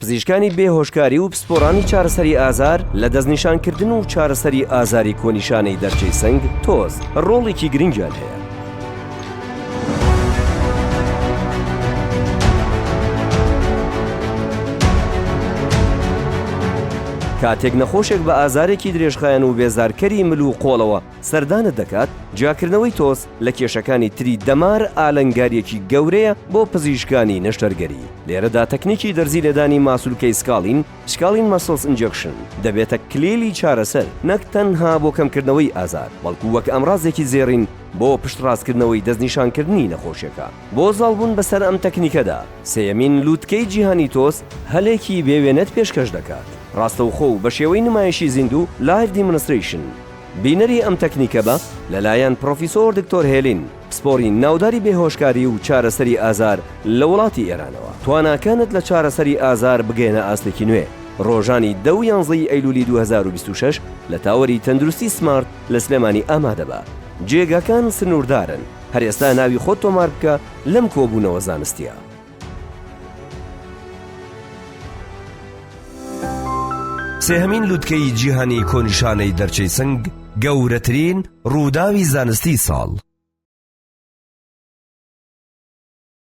پزیشکانی بێ هۆشکاری و پسپۆڕانی چارەسەری ئازار لە دەستنیشانکردن و چارەسەری ئازاری کۆنیشانەی دەرچەی سنگ، تۆز، ڕۆڵێکی گرنگیان هەیە. کاتێک نەخۆشێک بە ئازارێکی درێژخایەن و بێزارکەری مل و قۆڵەوە، سەردانت دەکات، جیاکردنەوەی تۆز لە کێشەکانی تری دەمار ئالنگاریەکی گەورەیە بۆ پزیشکانی نەشتەرگەری، لێرەدا تەکنیکی دەرزی لێدانی ماسولکەی سکالین، Scalene Muscles Injection، دەبێتە کلیلی چارەسەر نەک تەنها بۆ کەمکردنەوەی ئازار، بەڵکو وەک ئامرازێکی زێڕین بۆ پشتڕاستکردنەوەی دەستنیشانکردنی نەخۆشیەکە. بۆ زاڵبوون بەسەر ئەم تەکنیکەدا، سێیەمین لوتکەی جیهانی تۆز هەلێکی بێ وێنەت پێشکەش دەکات، ڕاستەوخۆ و بەشێوەی نمایشی زیندوو، Live Demonstration، بینەری ئەم تەکنیکە بە لەلایەن پرۆفیسۆر دکتۆر هێلین، پسپۆری ناوداری بێهۆشکاری و چارەسەری ئازار لە وڵاتی ئێرانەوە. تواناکانت لە چارەسەری ئازار بگەیەنە ئاستێکی نوێ. ڕۆژانی دە و یانزە ی ئەیلوولی دوو هەزار و بیست و شەش لە تاوەری تەندروستی سمارت لە سلێمانی ئامادە بە. جێگاکان سنووردارن. هەر ئێستا ناوی خۆت تۆمار بکە لەم کۆبوونەوە زانستییە. سێهەمین لوتکەی جیهانی کۆنیشانەی دەرچەی سنگ گەورەترین ڕووداوی زانستی ساڵ